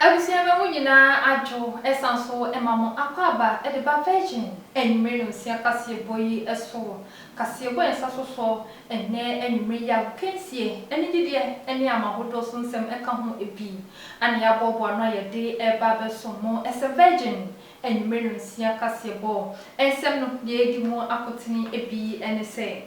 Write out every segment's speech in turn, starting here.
Abusua no mu nyinaa adwo san so ma mo akwaaba de ba Virgin anwummere nhosia kaseɛbɔ yi so. Kaseɛbɔ a ɛnsa so sɔ ɛnnɛ anwummere yi a agokansie, anigyedeɛ ne ama ahodoɔ so nsɛm ka ho bi na yɛaboaboa ano a yɛde reba abɛsom mo. Ɛsɛ Virgin anwummere nhosia kaseɛbɔ nsɛm no deɛ ɛdi mu akotene bi ne sɛ.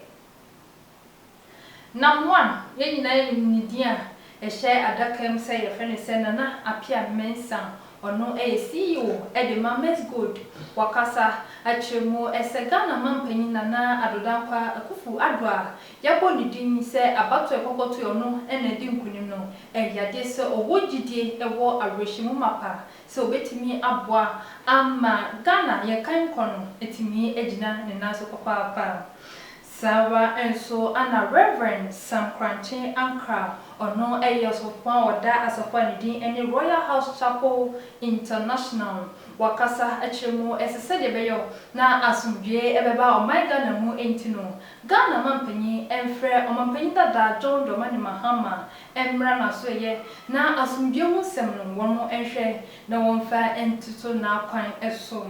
Na mo a yɛn nyinaa yɛ no ne din a ɛhyɛ adaka mu sɛ yɛfrɛ no sɛ Nana Appiah Mensah, ɔno yɛ CEO de ma Mexgold. Wakasa akyerɛ mu sɛ Ghana Mampanyin Nana Addo Dankwa Akuffo Addo a yɛabɔ ne din yi sɛ abatoɔ a ɛkɔkɔ toeɛ ɔno na adi nkunim no ɛyɛ adeɛ sɛ ɔwɔ gyidie ɛwɔ awerɛhyɛmu mapa sɛ ɔbɛtumi aboa ama Ghana yɛkan kɔ no atumi agyina ne nan so papaapa. Saara nso na Rev. Sam Korankye Ankrah, ɔno yɛ ɔsɔfo a ɔda asafo a ne din ne Royal House Chapel International no, wakasa akyerɛ mu sɛ sɛdeɛ ɛbɛyɔ na asomdwoeɛ bɛba ɔman Ghana mu nti no, Ghana mampanyin mfrɛ ɔmampanyin dada John Dramani Mahama mmra n'asoɛeɛ na asomdwoeɛ ho nsɛm no wɔn nhwɛ na wɔmfa ntoto n'akwan so.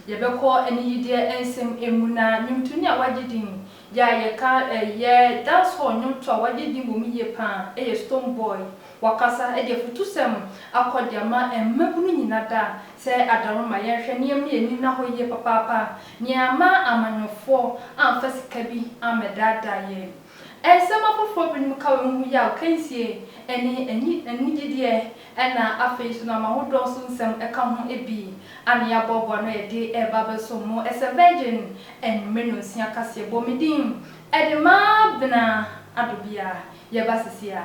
Yɛbɛkɔ aniyideɛ nsɛm mu na nnwomtoni a wagye din yi a yɛka yɛ dancehall nnwomto a wagye din wɔ mu yie pa ara yɛ Stonebwoy. Wakasa de afutusɛm akɔ de ama mmabunu nyina da sɛ adaworoma yɛnhwɛ na yɛmma yɛni nna hɔ yie papaapa. Nea amma amanyɔfoɔ amfa sika bi ammɛdaadaa yɛn. Nsɛm afoforo binom ka wɔ ehu yaw, kansie, ne anyi anigyedeɛ na afei nso nam ahodoɔ so nsɛm ka ho bi a na yɛaboaboa ano a yɛde reba abɛsom mo sɛ Virgin anwummere nnɔnsia kaseɛ Bɔ Me Din de ma Bena Adobea. Yɛba seesei a,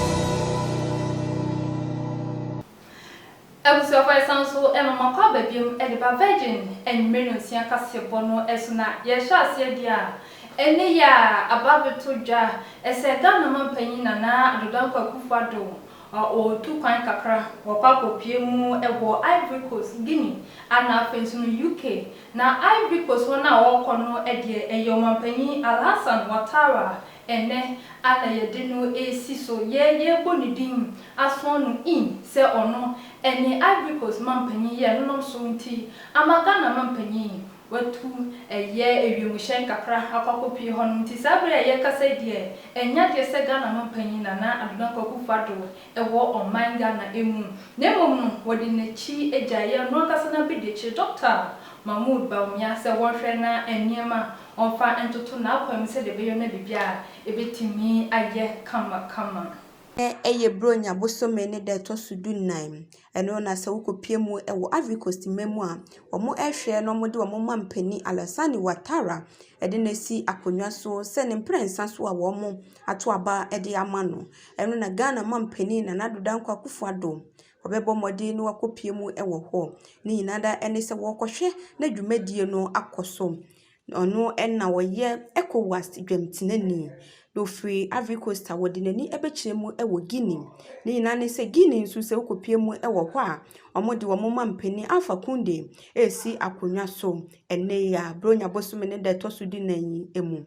Abusuafo yɛsan so ma mo akwaaba biom de ba Virgin anwummere nnɔnsia kaseɛbɔ no so na yɛhyɛ aseɛ deɛ a ɛne yɛ a aba abɛtɔ dwa sɛ Ghana manpanyin Nana Addo Dankwa Akufo Addo ɔretu kwan kakra wakɔ akɔpue mu wɔ Ivory Coast, Guinea ana afei nso no UK na Ivory Coast wɔn a wɔrekɔ no deɛ ɛyɛ ɔmanpanyin Alhassan Wattara Ɛnnɛ, Allah yɛde no resi so, yɛ yɛrebɔ ne din, asɔn no in, sɛ ɔno, ɛne Ivory Coast mampanyin yɛ no nam so nti, ama Ghana mampanyin, watu, ɛyɛ ewiemhyɛn kakra akɔ akɔpue hɔnom, nti saa bere a yɛrekasa yi deɛ, ɛnyɛ adeɛ sɛ Ghana mampanyin Nana Addo Dankwa Akuffo Addo wɔ ɔman Ghana mu, na mmom no, wɔde n'akyi agyaeɛ, ɔno ankasa n'abadiakyire, Dɔkta Mahmoud Bawumia, sɛ wɔnhwɛ na nneɛma Ɔmfa ntoto n'akwan mu sɛdeɛ ɛbɛyɛ na biribi a ɛbɛtumi ayɛ kama kama. Nnɛ ɛyɛ Buronya bosome ne da ɛtɔ so du nnan. Ɛno na sɛ wokɔpue mu wɔ Ivory Coast mma mu a, wɔhwɛ na wɔde wɔn ma mpanin Alassane Ouattara de no asi akonnwa so sɛ ne mprɛnsa so a wɔato aba de ama no. Ɛno na Ghana mampanin Nana Addo Dankwa Akufo-Addo Wɔbɛbɔ mmɔden na wɔakɔpue mu wɔ hɔ. Ne nyinaa ara ne sɛ wɔrekɔhwɛ na dwumadie no akɔ so. Ɔno na ɔyɛ Ecowas dwamtenani, na ɔfiri Ivory Coast a ɔde n'ani bɛkyerɛ mu wɔ Guinea. Ne nyinaa ara ne sɛ Guinea nso sɛ wokɔpue mu wɔ hɔ a, wɔde wɔn mampanin Alpha Conde resi akonnwa so ɛnnɛ yi ara, Buronya bosome ne da a ɛtɔ so dunan yi mu.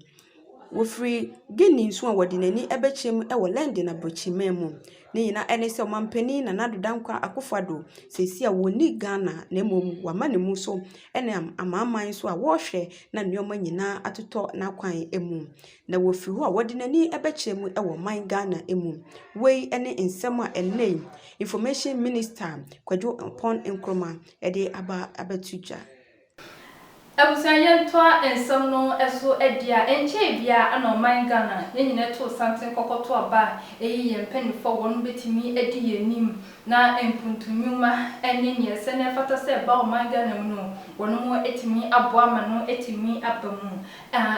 Wɔfiri Guinea nso a wɔde n'ani bɛkyɛm wɔ London aborɔkyiman mu. Ne nyinaa ne sɛ ɔmampanin Nana Addo Dankwaah Akuffo Addo seesei a ɔnni Ghana na mmom wama ne mu so nam amanaman so a wɔrehwɛ na nneɛma nyinaa atotɔ n'akwan mu. Na wɔfiri hɔ a wɔde n'ani bɛkyɛm wɔ ɔman Ghana mu. Wei ne nsɛm a ɛnnɛ yi Information Minister Kwadwo Ampɔn Nkrumah de aba abɛto dwa. Abusua yɛntoa nsɛm no so adi a, ɛnkyɛɛ biara na ɔman Ghana, yɛn nyinaa too santen kɔkɔto aba a ɛyi yɛn mpanyimfo a wɔn betumi adi yɛn anim na mpuntu nnwuma ne nea ɛsɛ na ɛfata sɛ ɛba ɔman Ghana mu no, wɔn atumi aboa ma no atumi aba mu.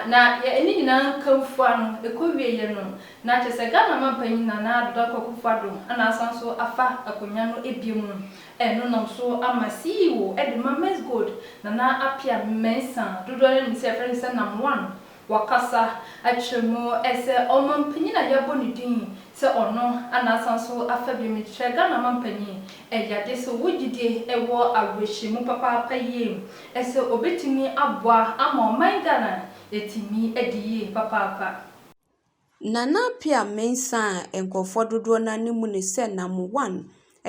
Na ne nyinaa nkamfua no, ɛkɔwieɛ no, na kyerɛ sɛ Ghana Mampanyin Nana Addo Dankwa Akufo-Addo na asan so afa akonwa no bio mu. Ɛno nam so ama CEO de ma Mens Gold, Nana Appiah Mensah, dodoɔ no anim sɛ yɛfrɛ no sɛ Nam One, wakasa akyerɛ mu sɛ ɔmampanyin a yɛabɔ ne din sɛ ɔno na asan nso afa bio no kyerɛ Ghana mampanyin ɛyɛ ade sɛ ɔwɔ gyidie ɛwɔ awerɛhyɛmu papaapa yie sɛ ɔbɛtumi aboa ama ɔman Ghana yɛatumi adi yie papaapa. Nana Appiah Mensah a nkurɔfoɔ dodoɔ no ara anim ne sɛ Nam One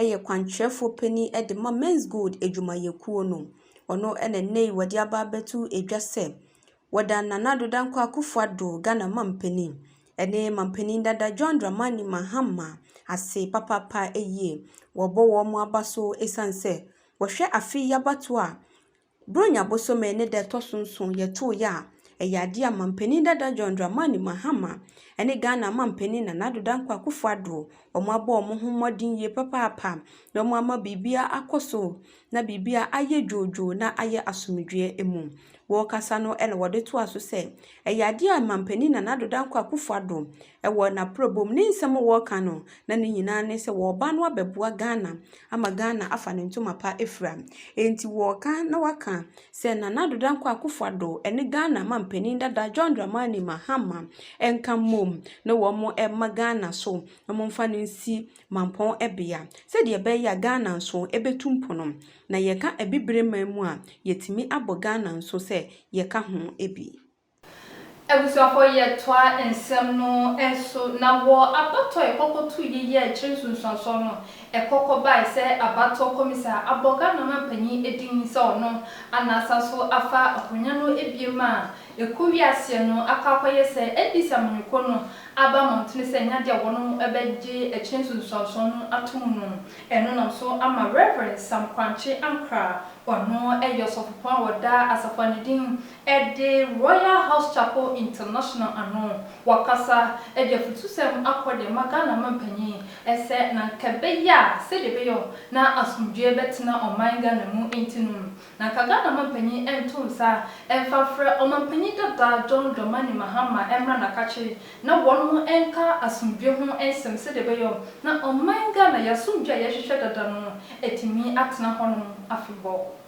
yɛ kwankyerɛfoɔ panin de ma Men's Gold adwumayɛkuo no. Ɔno na nnɛ yi wɔde aba abɛto dwa sɛ wɔda Nana Addo Dankwa Akufo Addo, Ghana mampanin, ne mampanin dada John Dramani Mahama ase papaapa yie. Wɔrebɔ wɔn aba so ɛsiane sɛ wɔhwɛ afe yi abatoɔ a, Buronya bosome ne da ɛtɔ so nson yɛ tow yɛ a, ɛyɛ adeɛ a Manpanin dada John Dramani Mahama ne Ghana Manpanin Nana Addo Dankwa Akufo Addo, wɔn abɔ wɔn ho mmɔden yie papaapa na wɔn ama biribiara akɔ so na biribiara ayɛ dwoodwoo na ayɛ asomdwoeɛ mu. Wɔrekasa no na wɔde toa so sɛ, ɛyɛ adeɛ a Manpanin Nana Addo Dankwa Akufo Addo Ɛwɔ n'abrabɔ mu, ne nsɛm a wɔka no, na ne nyinaa ne sɛ wɔreba no abɛboa Ghana ama Ghana afa ne ntoma pa afira. Enti wɔreka na wɔaka sɛ Nana Addo Dankwa Akufo Addo ne Ghana manpanin dada John Dramani Mahama nka mmom na wɔmma Ghana so na wɔmfa no nsi mampɔn bea sɛdeɛ ɛbɛyɛ a Ghana nso bɛtu mpono. Na yɛka Abibire man mu a, yɛtumi abɔ Ghana nso sɛ yɛka ho bi. Abusuafo yɛ toa nsɛm no so na wɔ abatoɔ ɛkɔkɔ tu yi yɛ akyiri nsunsuansoɔ no ɛkɔkɔ bae sɛ abatoɔ kɔmisa abɔ Ghana manpanin edin sɛ ɔno ana asan so afa akonya no ebiem a ɛkɔ wie aseɛ no akɔ akɔyɛ sɛ NDC amanyɔkuo no aba amɔntene sɛ ɛnyɛ adeɛ a wɔnom ɛbɛgye akyiri nsunsuansoɔ no ato mu no ɛno nam so ama Rev Sam Korankye Ankrah ɔno ɛyɛ ɔsɔfopɔn a ɔda Asafo Anidin Ɛde Royal House Chapel International ano wakasa de afutusɛm akɔ de ama Ghana mampanyin sɛ na anka ɛbɛyɛ a sɛdeɛ ɛbɛyɛ na asomdwoeɛ bɛtena ɔman Ghana mu nti no, na anka Ghana mampanyin nto nsa mfa mfrɛ ɔmampanyin dada John Dramani Mahama mmra n'akakye na wɔn nka asomdwoeɛ ho nsɛm sɛdeɛ ɛbɛyɛ na ɔman Ghana yɛn asomdwoeɛ a yɛhwehwɛ dada no atumi atena hɔnom afebɔɔ.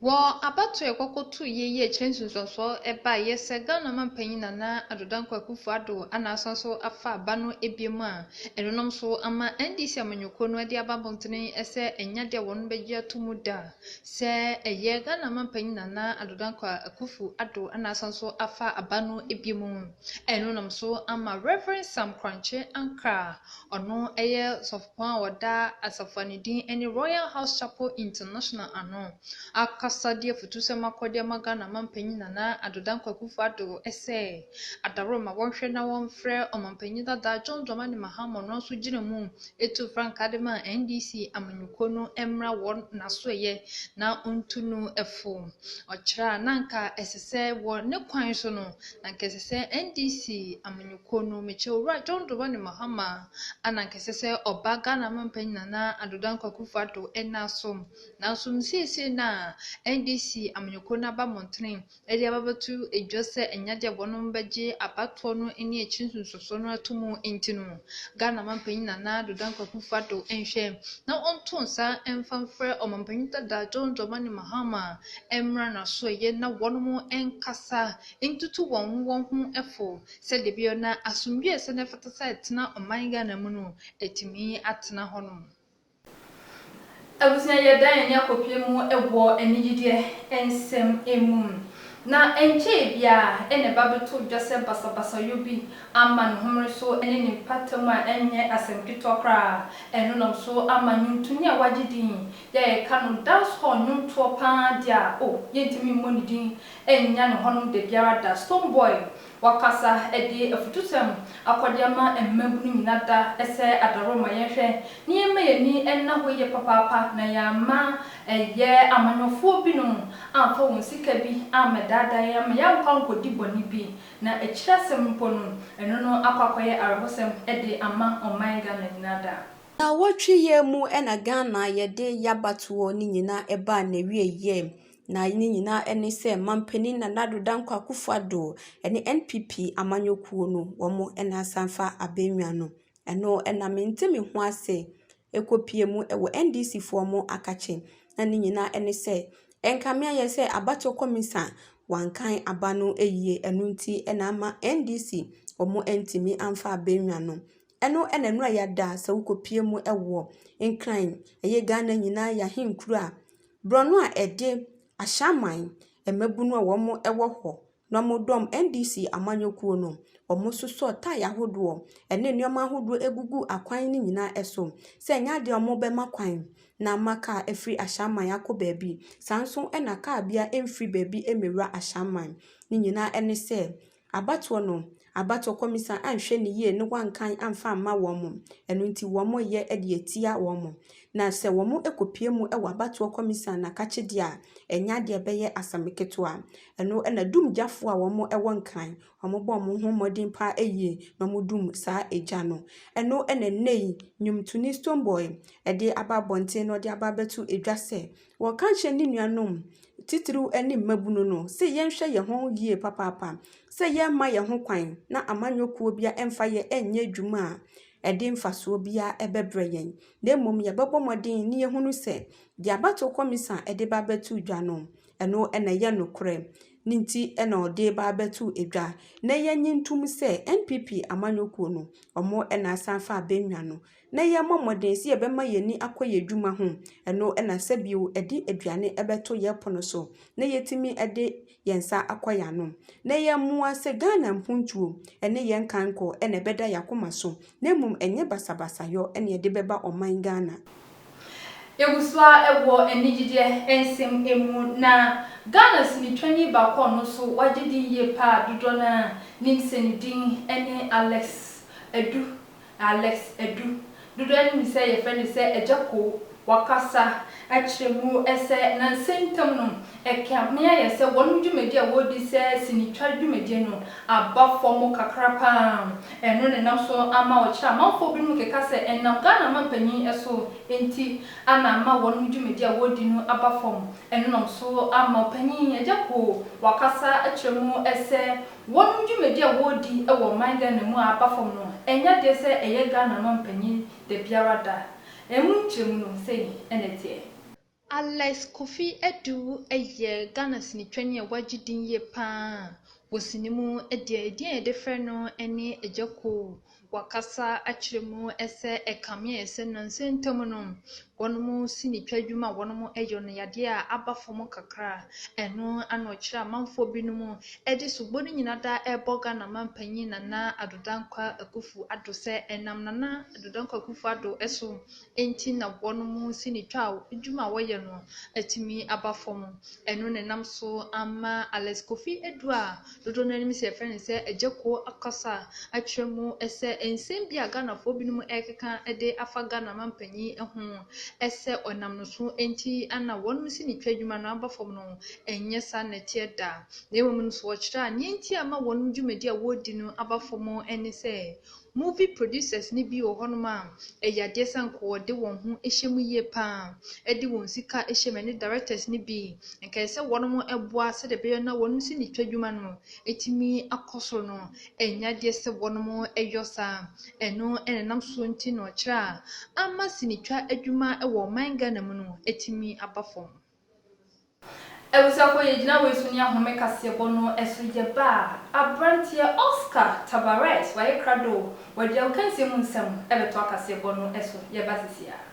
Wɔ abatoɔ a ɛkɔ kɔ to yɛ yi akyire nsunsuansoɔ ɛba yɛ sɛ Ghana manpanyin Nana Addo Dankwa Akuffo Addo ana asan so afa aba no biom a ɛno nom so ama NDC amanyɔkuo no ɛde aba abɔntene ɛsɛ ɛnya deɛ wɔnom bɛgye ato mu da sɛ ɛyɛ Ghana manpanyin Nana Addo Dankwa Akuffo Addo ana asan so afa aba no biom ɛno nom so ama Rev Sam Korankye Ankrah ɔno ɛyɛ sɔfo Wɔn a wɔda asafo a ne din ne Royal House Chapel International ano akasa de afutusɛm akɔ de ama Ghana Mampanyin Nana Addo Dankwa Akufo Addo sɛ adaworo ma wɔnhwɛ na wɔmfrɛ Ɔmampanyin dada John Dramani Mahama ɔno ara nso gyina mu tuu frankaa de maa NDC amanyɔkuo no mmra wɔn n'asoɛyɛ na ɔntu no fo. Ɔkyerɛ a na anka ɛsɛ sɛ wɔ ne kwan so no na anka ɛsɛ sɛ NDC amanyɔkuo no mekyɛ Owura John Dramani Mahama Ana nka ɛsɛ sɛ ɔba Ghana mampanyin Nana Addo Dankwa Akufo Addo nna so? Nanso no seesei no a NDC amanyɔkuo no aba mmɔntene de abɛbɛto dwa sɛ ɛnyɛ adeɛ a wɔnom bɛgye abatoɔ no ne akyiri nsonsosoɔ no ato mu nti no, Ghana mampanyin Nana Addo Dankwa Akufo Addo nhwɛ na ɔnto nsa mfa mfrɛ ɔmampanyin dada John Dramani Mahama mmra n'asoɛeɛ na wɔnom nkasa ntutu wɔn ho wɔn ho fo Sɛ da bi ɔna asomdwie sɛ na ɛfata sɛ ɛtena ɔman Ghana mu no, ɛtumi atena hɔ nom. Abusua yɛ dan ani akɔpie mu wɔ anigyedeɛ nsɛm mu. Na ɛnkyɛɛ biara na ɛba bɛtoo dwa sɛ basabasayɔ bi ama ne homene so ne ne mpata mu a ɛnyɛ asɛm ketewa koraa. Ɛno nam so ama nwontonyi a wagye din yi a yɛka no dancehall nwontoɔ paa deɛ a oh yɛntumi mmɔ ne din nnya no hɔnom da biara da. Stonebwoy wakasa de afutusɛm akɔ de ama mmabunu nyina da sɛ adaworo mma yɛnhwɛ na yɛmma yɛn ani nna hɔ yie papaapa na yɛamma ɛyɛ amanyɔfoɔ binom amfa wɔn sika bi ammɛdaadaa yɛn ama yɛankɔ ankɔdi bɔne bi na akyiri asɛm mpo no ɛno no akɔ akɔyɛ awerɛhosɛm de ama ɔman Ghana nyina da. Nnawɔtwe yɛ mu na Ghana yɛde yɛabatoɔ no nyina baa n'awieɛ. Na ne nyinaa ne sɛ manpanin Nana Addo Dankwa Akuffo Addo ne NPP amanyɔkuo no wɔn na asan afa Abenwa no. Ɛno na mente me ho ase kɔ pie mu wɔ NDC foɔ wɔn akakye. Na ne nyinaa ne sɛ nka me ayɛ sɛ abatoɔ kɔmisa wankan aba no yie ɛno nti na ama NDC wɔn antumi amfa Abenwa no. Ɛno na nnora yi ada sɛ wokɔ pie mu wɔ Nkran ɛyɛ Ghana nyinaa yɛ ahenkuro a. Borɔno a ɛde Ahyɛaman mmabunu a wɔn wɔ hɔ na wɔn dɔm NDC amanyɔkuo no, wɔn sosɔ tae ahodoɔ ɛne nnoɔma ahodoɔ ɛgugu akwan no nyinaa ɛso sɛ ɛnyɛ adeɛ a wɔn bɛma kwan na ama car afiri Ahyɛaman akɔ baabi, saa nso na car biara mfiri baabi mmɛwura Ahyɛaman, ne nyinaa ɛne sɛ. Abatoɔ no, abatoɔ kɔmisa anhwɛ no yie ne wankan amfa amma wɔn, ɛno nti wɔreyɛ de atia wɔn. Na sɛ wɔkɔpue mu wɔ abatoɔ kɔmisa no akakyedeɛ a, ɛnyɛ adeɛ a ɛbɛyɛ asɛm ketewa. Ɛno na dumgyafoɔ a wɔwɔ Nkran, wɔbɔ wɔn ho mmɔden pa ara yie na wɔdum saa egya no. Ɛno na ɛnnɛ yi, nnwomtoni Stonebwoy de aba abɔnten na ɔde aba abɛto dwa sɛ, Wɔka kyerɛ ne nuanom, titiriw ne mmabun no, sɛ yɛnhwɛ yɛn ho yiye papaapa, sɛ yɛremma yɛn ho kwan na amanyɔ kuw biara mfa yɛn nyɛ adwuma a ɛde mfaso biara bɛbrɛ yɛn, na mmom yɛbɛbɔ mmɔden na yɛahunu sɛ deɛ abatow kɔmisa a ɛde ba abɛto dwa no, ɛno na ɛyɛ nokorɛ, ne nti na ɔde ba abɛto dwa, na yɛnnye ntom sɛ NPP amanyɔ kuo no, wɔn na asan fa abɛnwa no. na yɛmmɔ mmɔden sɛ yɛbɛma yɛn ani akɔ yɛn adwuma ho. Ɛno na sɛ bio ɛde aduane bɛto yɛn pono so na yɛatumi de yɛn nsa akɔ yɛn ano. Na yɛn mmoa sɛ Ghana mpontuo ne yɛn nkankɔ na ɛbɛda yɛn akoma so na mmom ɛnyɛ basabasayɔ na yɛde bɛba ɔman Ghana. Yɛgusoa wɔ anigyedeɛ nsɛm mu na Ghana sinitwani baako a ɔno nso wagye din yie paa dodoɔ no ara nim sɛ ne din ne Alex Adu Alex Adu, dodoɔ no nim sɛ yɛfrɛ no sɛ Agya Koo, wakasa akyerɛ mu sɛ nansa ntam no ɛkame ayɛ sɛ wɔnom dwumadie a wɔredi sɛ sinitwa dwumadie no aba fam kakra pa ara. Ɛno na ɛnam so ama ɔkyerɛ a amanfoɔ binom keka sɛ ɛnam Ghana manpanin so nti na ama wɔnom dwumadie a wɔredi no aba fam. Ɛno nam so ama ɔpanin Agya Koo wakasa akyerɛ mu sɛ Wɔnom dwumadi a wɔredi wɔ ɔman Ghana mu a aba fam no ɛnyɛ adeɛ sɛ ɛyɛ Ghana mampanyin dabiara da. Ɛmu nkyerɛmu no sei na ɛteɛ. Alex Kofi Addo yɛ Ghana sinitwani a wagye din yie pa ara wɔ sini mu. Deɛ ɛdin a yɛde frɛ no ne Agya Koo. Wɔkasa kyerɛ mu sɛ ɛkame sɛ nnansa ntam no, wɔnom sinitwa dwuma a wɔnom yɔ no yadeɛ a aba fam kakra. Ɛno na ɔkyerɛ amanfoɔ binom de sobo no nyina da ɛrebɔ Ghana manpanyin Nana Addo Dankwa Akuffo Addo sɛ ɛnam Nana Addo Dankwa Akuffo Addo so Enti na boɔ no mu sinitwaa adwuma a wɔyɛ no atumi aba fam. Ɛno na ɛnam so ama Alex Kofi Adu a dodoɔ no ara nim sɛ yɛfrɛ no sɛ Agya Kuo akasa akyerɛ mu sɛ nsɛm bi a Ghanafoɔ binom rekeka de afa Ghana mampanin ho sɛ ɔnam no so nti na wɔn sinitwaa adwuma no aba fam no, ɛnyɛ saa na ɛteɛ da. Na mmom nso ɔkyerɛ a, deɛ enti a ɛma wɔn dwumadi a wɔredi no aba fam ne sɛ Movie producers no bi wɔ hɔnom a ɛyɛ adeɛ sɛ anka wɔde wɔn ho hyɛ mu yie pa ara de wɔn sika hyɛ mu. Ɛne directors no bi. Anka ɛsɛ sɛ wɔnom boa sɛdeɛ ɛbɛyɛ na wɔnom sinitwa dwuma no atumi akɔ soro no. Ɛnyɛ adeɛ sɛ wɔnom yɔ saa. Ɛno na ɛnam so nti na ɔkyerɛ a ama sinitwa adwuma wɔ ɔman Ghana mu no atumi aba fam. Abusuafoɔ yɛgyina wei so ne ahome kaseɛbɔ no so yɛba a, aberanteɛ Oscar Tabarez wayɛ krado o, wɔde aokansie mu nsɛm bɛtoa kaseɛbɔ no so yɛba sisi ara.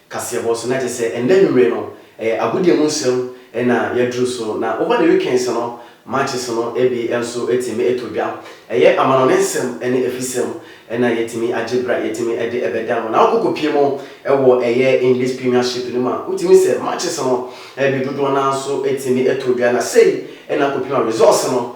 kaseɛbɔ so na kyerɛ sɛ ɛnnɛ anwummere no ɛyɛ agodie mu nsɛm na yɛaduru so na over the weekends no matches no bi nso tumi tɔ dwa ɛyɛ amanɔne nsɛm ne afisɛm na yɛtumi agye berɛ a yɛtumi de ɛbɛda no na wokɔ kɔpie mu wɔ ɛyɛ English Premiership no mu a wotumi sɛ matches no bi dodoɔ no ara nso tumi tɔ dwa na sei na akɔpie mu a results no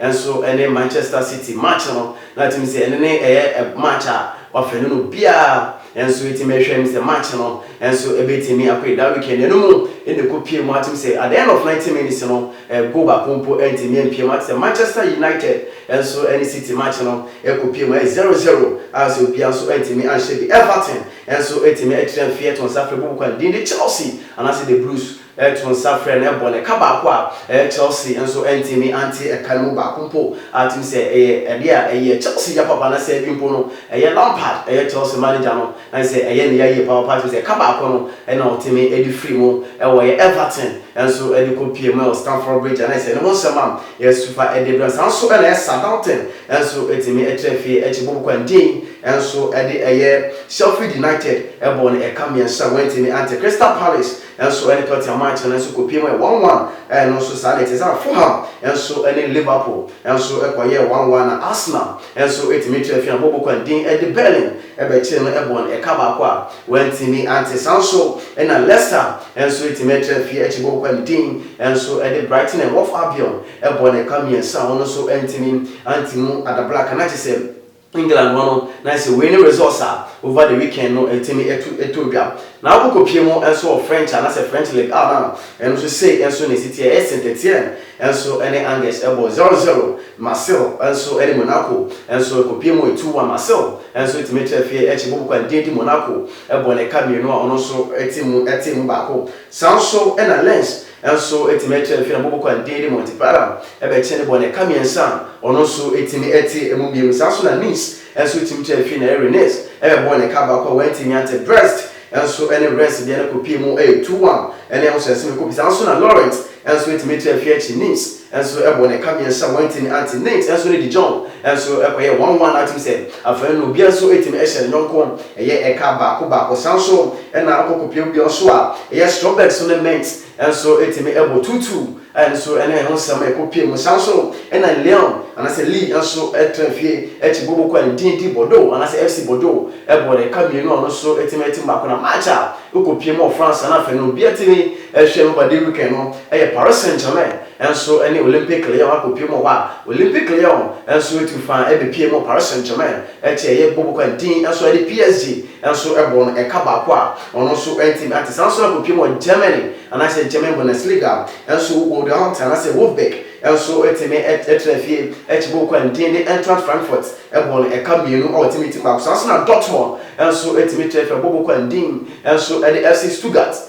Nso ɛne Manchester City match no na ɛtumi sɛ ɛne no ɛyɛ match a wafɛne no biara nso ɛti mɛhwɛ mi sɛ match no nso ɛbɛtumi akɔ yi daa weekend ɛno mu ɛna ɛkɔ pie mu atumi sɛ at the end of 90 minutes no goal baako mpo ɛntumi ɛmpie mu atumi sɛ Manchester United nso ɛne City match no ɛkɔ pie mu ɛyɛ 0-0 a sɛ obia nso ɛntumi anhyɛ bi Everton nso ɛtumi ɛkyerɛ mfeɛ ɛto nsa frɛ bɔbɔ kwan din de Chelsea anaasɛ the Blues ɛto nsa frɛ no, ɛbɔ no ɛka baako a, ɛyɛ Chelsea nso antumi ante ɛka no mu baako mpo, a tim sɛ ɛyɛ ɛdeɛ a ɛyɛ Chelsea ya papa na sɛɛ bi mpo no, ɛyɛ Lampard, ɛyɛ Chelsea manager no, na kyerɛ sɛ ɛyɛ ne ya yie papapa, a tim sɛ ɛka baako no na ɔtumi de firi mu, ɛwɔ ɛyɛ Everton nso de kɔ pie mu ɛwɔ Stamford Bridge, a na kyerɛ sɛ ne ho nsɛm a yɛsu fa de brɛ no, saa nso na ɛyɛ Southampton nso tumi tra fie akyi bɔ bɔkɔ a Ndiaye nso de ɛyɛ Sheffield United bɔɔ no ɛka mmiɛnsa a wantumi ante Crystal Palace. nso ne Tottenham match no nso kɔpiam yɛ one one, ɛno nso saa na ɛte. Saa ara Fulham nso ne Liverpool nso kɔyɛɛ one one, na Arsenal nso tumi tu afiri abɔbɔ kwan dinn de Berlin bɛkyeree no bɔɔ no ɛka baako a wantumi ante. Saa ara nso na Leicester nso tumi atu afiri akyiri bɔbɔ kwan dinn nso de Brighton and Hove Albion bɔɔ no ɛka mmiɛnsa a ɔno nso antumi ante mu. Ada Black, na kyerɛ sɛ England hɔ no na ayɛ sɛ wei ne results a over the weekend no ɛtumi ɛto ɛtoo dwa. Na wokɔ kɔ pie mu nso wɔ French anaasɛ French Ligue a na ɛno nso sei nso na ɛsi teɛ ɛyɛ Saint Etienne nso ɛne Angers ɛbɔ zero zero, Marseille nso ɛne Monaco nso ɛkɔ pie mu two one, Marseille nso ɛtumi ɛtu afie ɛkyi bobo kwan din di Monaco ɛbɔ ne ka mmienu a ɔno nso ɛte mu ɛtee mu baako. Saa nso ɛna Lens Nso etumi kyerɛ fi na bobo kwan din de Monte Para bɛkye ne bɔ na ɛka mmiɛnsa a ɔno nso etumi te emu mmienu. Saa nso na Nice nso tumi kyerɛ fi na ɛyɛ Rennes bɛbɔ na ɛka baako a wɔantumi ante. Brest nso ne Reims deɛ no kɔpie mu yɛ Touan ne Anse Esime kɔpie. Saa nso na Lorient nso etumi kyerɛ fi akyi Nice. nso bɔɔ no ka mmiɛnsa a wantumi ante. Nate nso ne DeJohn nso kɔyɛɛ wɔn one a tim sɛ afei no obiara nso tumi hyɛ ne yɔnko yɛ ɛka baako baako. Saa nso na ɔkɔ kɔpue bea nso a ɛyɛ strawberries no ne mint nso tumi bɔ tuutuu a ɛno nso ne ɛho nsɛm ɛkɔ pue mu. Saa nso na Leon anaasɛ Lee nso tra fie kyi Boboko a ne din de Bordeaux anaasɛ FC Bordeaux bɔɔ no ɛka mmienu a ɔno nso tumi te mmaako na March a ɔkɔ pue mu wɔ France na afei no obiara tumi Ɛhwɛ mu ba David kan no yɛ Paris Saint-Germain nso ne Olympique Lyon akɔpue mu wɔ hɔ a Olympique Lyon nso atu fa bɛpue mu Paris Saint-Germain akyi a ɛyɛ bɔbɔ kwan dinn nso de PSG nso bɔɔ no ɛka baako a ɔno nso antumi ante saa nso na akɔpue mu wɔ Germany anaasɛ German Bundesliga nso Borussia Dortmund anaasɛ Wolfsburg nso tumi tra fie akyi bɔbɔ kwan dinn de Eintracht Frankfurt bɔɔ no ɛka mmienu wɔ timi tim baako saa nso na Dortmund nso tumi tra fie bɔbɔ kwan dinn nso de FC Stuttgart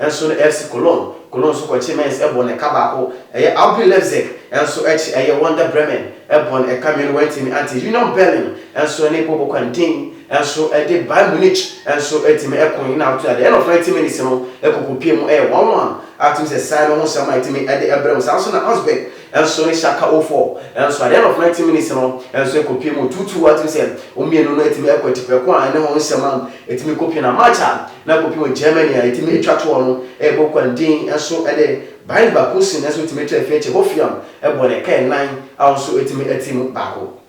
nso no FC Cologne. Cologne nso kɔkye Mainz bɔɔ no ɛka baako. Ɛyɛ RB Leipzig nso akyi ɛyɛ Werder Bremen bɔɔ no ɛka mmienu wantumi ante. Union Berlin nso ne Bobo Quentin nso de Bayern Munich nso tumi ko no na ato. At the end of ninety minutes no ɛkɔkɔpue mu ɛyɛ one one a tumi sɛ saa no ho nsɛm a ɛtumi de ɛbrɛ mu. Saa nso na Augsburg nso ne Schalke oh four nso at the end of ninety minutes no nso ɛkɔpue mu two two a tumi sɛ wɔn mmienu no tumi kɔ atiprɛko a ɛne ho nsɛm a ɛtumi kɔpue na match a na mpopi wɔ Germany a etumi twa toɔ no rebɔ kwan dinn nso de bind baako sin nso tumi tra fi akyi hofiam bɔ ne kɛn nan a ɔno nso tumi ti mu baako.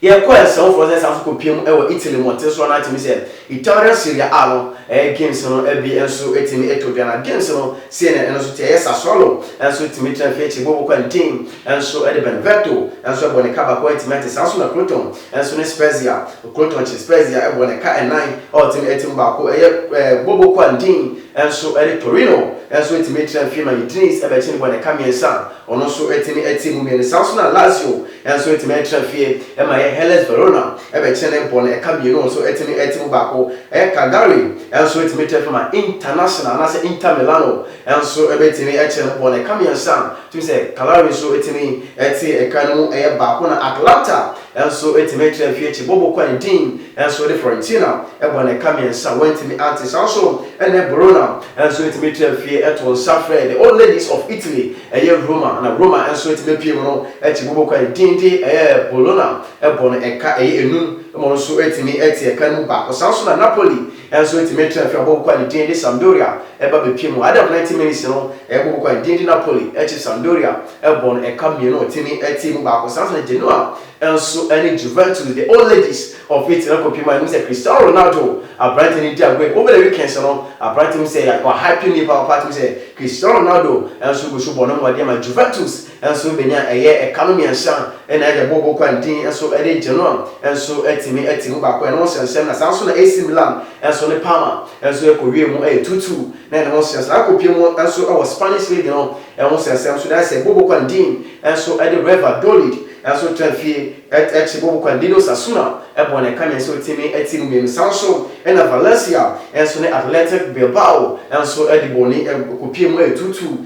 Yɛkɔɔ nsɛmfoɔ sɛ san nso kɔpie mu wɔ Italy mmɔnten so anaa tumi sɛ Italian Serie A no ɛyɛ games no bi nso tumi to dwa na games no sei na ɛno nso te ɛyɛ Sassuolo nso tumi tra fi akyi bɔ kwan dinn nso de Benevento nso bɔ ne ka baako atumi ate saa nso na Crotone Nso ne Spezia, Okrotɔnkye Spezia bɔ ne ka nnan a ɔte no tim baako yɛ Bobo Kwan Din nso ne Torino nso tumi tena fie ma Udinese bɛkye no bɔ ne ka mmiɛnsa a ɔno nso tumi te mu mmienu saa nso na Lazio nso tumi tena fie ma yɛ Hellas Verona bɛkye no bɔ no ka mmienu nso tumi te mu baako yɛ Cagliari nso tumi tena fie ma International anaasɛ Inter Milano nso bɛtumi kye no bɔ no ka mmiɛnsa a Tumi sɛ Calgary nso tumi te ɛkan no mu yɛ baako na Atlanta nso tumi kyerɛ mfeɛ akyi bɔbɔ kɔ ne din nso de Fiorentina bɔ no ɛka mmiɛnsa wantumi ante saa nso ne Verona nso tumi kyerɛ mfeɛ to nsa frɛ the old ladies of Italy ɛyɛ Roma na Roma nso tumi pie mu no akyi bɔbɔ kɔ ne din de ɛyɛ Bologna bɔ no ɛka ɛyɛ enum mmɔ no nso tumi te ɛkan no mu baako saa nso na Napoli Nanso enti me tra fi abɔ koko a ne din de Sampdoria ɛba bepie mu Adam 90 minutes no ɛyɛ bɔ koko a ne din de Napoli ɛkyi Sampdoria ɛbɔ no ɛka mmienu a ɔtumi ɛtee mu baako saa nso na Genoa nso ɛne Juventus the old ladies of Italy ɛkɔ pie mu a yɛnim sɛ Cristiano Ronaldo aberanteɛ no di agoru over the weekends no aberanteɛ mu sɛ wa hype no yie papaapa tumi sɛ Cristiano Ronaldo nso gu so bɔ no mmɔden ma Juventus nso benya ɛyɛ ɛka no miɛnsa ɛna ɛde bɔ Boko Haram din nso ɛde gye no a nso atumi ati mu baako ɛno ho sɛnsɛm na saa nso na AC Milan nso ne Parma nso ɛkɔ wiee mu ɛyɛ two two na ɛno ho sɛnsɛm na akɔ pue mu nso ɛwɔ Spanish League no ɛho sɛnsɛm nso na ɛsɛ bɔ Boko Haram din nso ɛde Reva Dolid nso tra fie ɛt ɛkye bɔ Boko Haram din no Sasuna ɛbɔ no ɛka miɛnsa otumi ati mu mienu saa nso ɛna Valencia nso ne Athletic Bilbao nso ɛde bɔ ni ɛkɔ pue mu ɛyɛ two two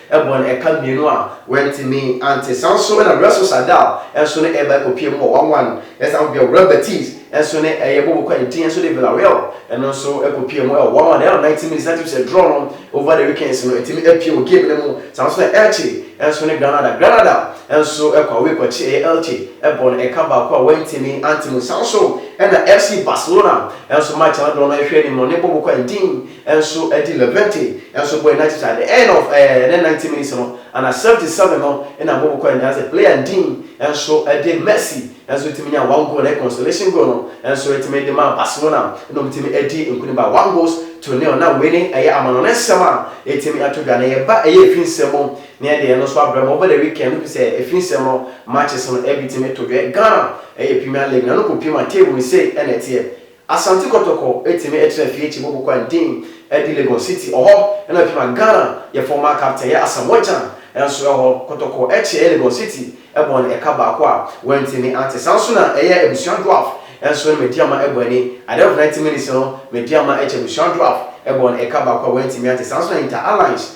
Ɛbɔ no ɛka mmienu a wantumi ante. Saa nso na Russell Sardau nso ne ɛba ɛkɔpie mu wɔ one one. Ɛsan nso bia Real Betis nso ne ɛyɛ bɔ bɔkɔ a ɛdi nso de Villarreal ɛno nso ɛkɔpie mu ɛwɔ one one. Ɛyɛ no ninety minutes na ɛtumi sɛ draw no over the weekends no ɛtumi ɛpie wɔ game no mu. Saa nso na Elche nso ne Granada. Granada nso ɛkɔ away kɔkye ɛyɛ Elche. Ɛbɔ no ɛka baako a wantumi ante mu. Saa nso ɛna FC Barcelona nso match a no doɔ no ɛhwɛ anim no ne bɔ bɔkɔ a ɛdi. nso de Liberty nso bɔe na kyekyɛ at the end of eh ne ninety minutes no ana seventy seven no na Mbobo kɔe nanso player Ndin nso de Mercy nso tumi nyaa one goal na ɛyɛ consolation goal no nso tumi de maa Barcelona na wɔtumi adi nkunim by one goals to nil na wei ne ɛyɛ amanɔne nsɛm a ɛtumi ato dwa na yɛba ɛyɛ ɛfiri nsɛm mu na yɛde ɛno nso abrɛ mo over the weekend no firi sɛ ɛfiri nsɛm no matches no ɛbi tumi to dwa Ghana ɛyɛ Premier League na no kɔ pie ma table no sei ɛna ɛteɛ Asante Kotoko etimi ekyina Afie-Kye bobo kwan din edi Legon City ɔhɔ na afim a Ghana yɛ former captain yɛ Asamoah Gyan nso ɛhɔ. Kotoko ɛkye yɛ Legon City ɛbɔ no ɛka baako a wantimi ante. Saa nso na ɛyɛ Abusua Dwarf nso no Medeama ɛbɔ ani Ade of ninety minutes no Medeama ɛkye Abusua Dwarf ɛbɔ no ɛka baako a wantimi ante. Saa nso na Inter Alliance.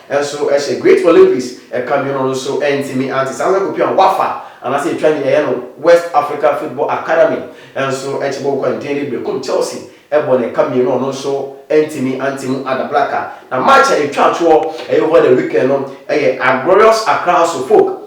Nso ɛhyɛ Great Wallabies ɛka mmienu no so ɛntumi ante saa nsa kɔpia Wafa anaasɛ ɛtwa nea ɛyɛ no West Africa Football Academy nso ɛkyɛ bɔ kwan den de Berekum Chelsea ɛbɔ no ɛka mmienu a ɔno nso ɛntumi ante mu Ada Black a na match a ɛtwa toɔ ɛyɛ over the weekend no ɛyɛ Aglorious Accra House of Folk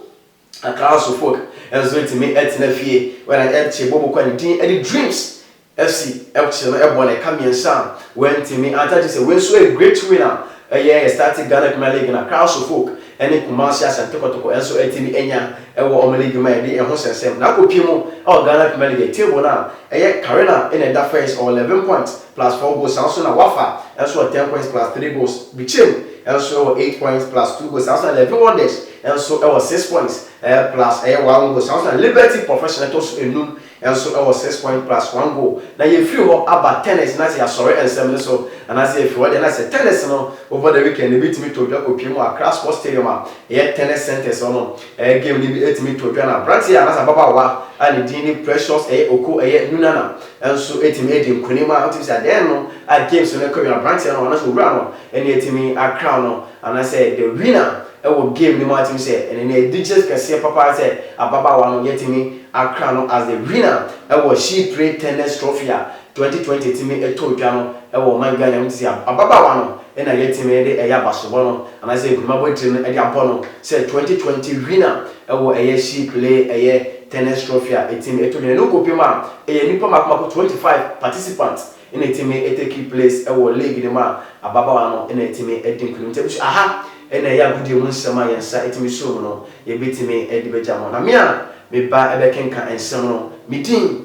A Council folk nso ntumi ntena fie when I empty bɔ mu kɔ ne din de dreams FC FC no bɔ no ɛka mmiɛnsa a wantumi anta gye sɛ wei nso yɛ great win a ɛyɛ yɛ starting Ghana Premier League no a Council folk ne Kumasi Asante Kotoko nso atumi anya wɔ wɔn league mu a yɛde ɛho sɛnsɛm na akɔpie mu wɔ Ghana Premier League table no a ɛyɛ Carina na ɛda first ɔwɔ 11 points plus four goals, ɛno nso na Wafa nso wɔ ten points plus three goals, Bichim nso wɔ eight points plus two goals, saa nso na Levee Wonders nso wɔ six points plus ɛyɛ one goal, saa nso na Liberty Professional ɛtɔ so nnum nso wɔ six points plus one goal. Na yɛfiri hɔ aba tennis, na sɛ yɛasɔre nsɛm no so anaasɛ yɛfiri hɔ deɛ na sɛ tennis no over the weekend no, yɛbɛtumi tɔ dwa kɔpue mu wɔ Accra Sports Stadium a ɛyɛ Tennis Centres hɔ nom. Ɛyɛ game no bi ɛtumi to dwa na abranteɛ anaasɛ ababaawa a ne din ne Precious ɛyɛ Oko ɛyɛ Nunana nso ɛtumi ɛdi nkunim a wotumi bisa dɛn no a games no ɛkɔ wie no abranteɛ no anaasɛ owura no ɛne ɛtumi akrown no anaasɛ the winner ɛwɔ game no mu a ɛtumi sɛ ɛne ne ɛdigyes kɛseɛ papa ara sɛ ababaawa no yɛtumi akrown no as the winner ɛwɔ She Pray Tennis Trophy a 2020 tumi too dwa no wɔ ɔman Ghana mu te sɛ ababaawa no na yɛtumi de ɛyɛ abasobɔ no anaasɛ nkunimabɔ tire no de abɔ no sɛ 2020 winner wɔ ɛyɛ She Play ɛyɛ Tennis Trophy a ɛtumi to dwa na ɛno nkɔpem a ɛyɛ nnipa mako mako 25 participants na ɛtumi take place wɔ league no mu a ababaawa no na ɛtumi di nkunim nti abusua aha na ɛyɛ agodie mu nsɛm a yɛn nsa ɛtumi sɔ mu no yɛbɛtumi de bɛgya mo na me a meba bɛkenka nsɛm no me din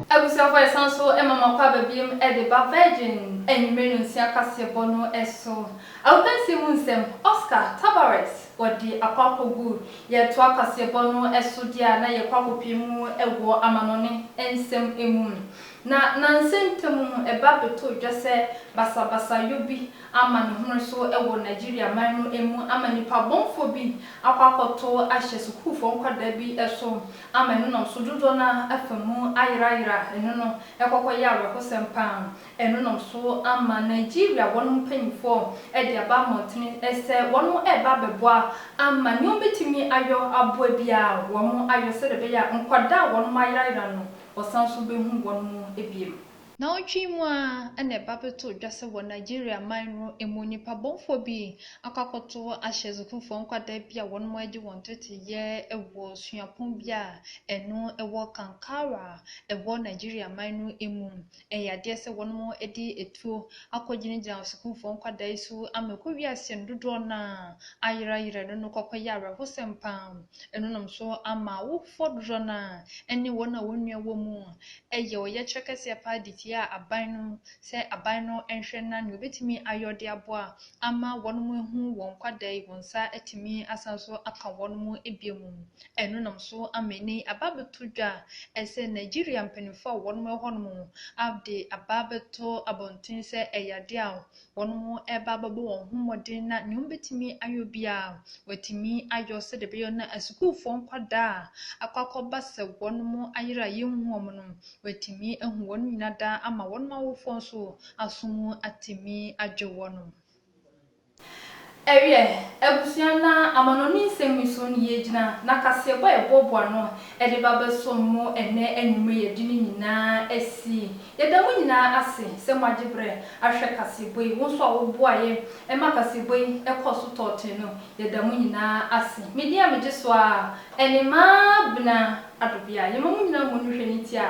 Abusuafo san nso ma m'akwaaba biom de ba Virgin anwummere nnɔnsia kaseɛbɔ no so. Agokansie mu nsɛm, Oscar Tabarez, wɔde akɔ akɔgu. Yɛretoa kaseɛbɔ no so deɛ a, na yɛkɔ akɔpue mu wɔ amanɔne nsɛm mu. Na nnansa ntam no, ɛba bɛtɔɔ dwa sɛ basabasayɔ bi ama no home so wɔ Nigeria man no mu ama nnipa bɔnfoɔ bi akɔ akɔto ahyɛ sukuufoɔ nkwadaa bi so ama ɛno nam so dodoɔ no ara afa mu ayerayera ɛno no, ɛkɔkɔ yɛ awerɛhosɛm pa ara, ɛno nam so ama Nigeria wɔnom mpanyinfoɔ de aba mmɔntene sɛ wɔnom ɛreba abɛboa ama nea wɔbɛtumi ayɔ aboa biara wɔnom ayɔ sɛdeɛ ɛbɛyɛ a nkwadaa a wɔnom ayerayera no wɔsan so bɛhu wɔnom biom. Naawɔtwe mu ara na ɛba bɛtoo dwa sɛ wɔ Nigeria man no mu nnipa bɔnfoɔ bi akɔ akɔto ahyɛ sukuufoɔ nkwadaa bi a wɔnom adi wɔn tete yɛ wɔ suapɔn bi a ɛno wɔ Kankara a ɛwɔ Nigeria man no mu. Ɛyɛ adeɛ sɛ wɔnom de atuo akɔ gyina gyina sukuufoɔ nkwadaa yi so ama ɛkɔ wie aseɛ no dodoɔ no ara ayera yera ɛno no kɔkɔ yɛ awerɛho sɛm paa. Ɛno nom so ama awofoɔ dodoɔ no ara ne wɔn a wɔn nua wɔ mu yɛ ɔyɛkyerɛ kɛseɛ paa de tia aban no sɛ aban no nhwɛ na nea ɔbɛtumi ayɔ de aboa ama wɔn mo ahu wɔn kwada yi wɔn nsa atumi asan so aka wɔn mo bio mu no ɛno nam so ama ɛnɛ yi aba abɛto dwa ɛsɛ Nigeria mpaninfoɔ a wɔn mo ɛhɔ nom ade aba abɛto abɔnten sɛ ɛyɛ adeɛ a Hɔn mo reba abɔbɔ hɔn ho mbɔdzen na nyia wobetumi ayɔ biara woetumi ayɔ sɛ dɛ bɛyɛ na asukuufo nkwadaa a akɔ akɔba sɛ hɔn mo ayer a yennhu hɔn no woetumi ehu hɔn nyina daa ama hɔn awofo so aso mu atsemi agye hɔn. Ɛwiɛ, abusua na amanɔne nsɛm nniso no yɛ gyina na kaseɛbɔ a yɛboaboa no de ba bɛsom mo ɛnnɛ anwummerɛ yɛde no nyinaa asi. Yɛda mo nyinaa ase sɛ moagye berɛ ahwɛ kaseɛbɔ yi. Wo nso a woboa yɛ ma kaseɛbɔ yi kɔɔ so tɔɔ ten no, yɛda mo nyinaa ase. Me din a megye so ara ne Maa Benah Adobea. Yɛma mo nyinaa mmɔ no hwɛ ne ti a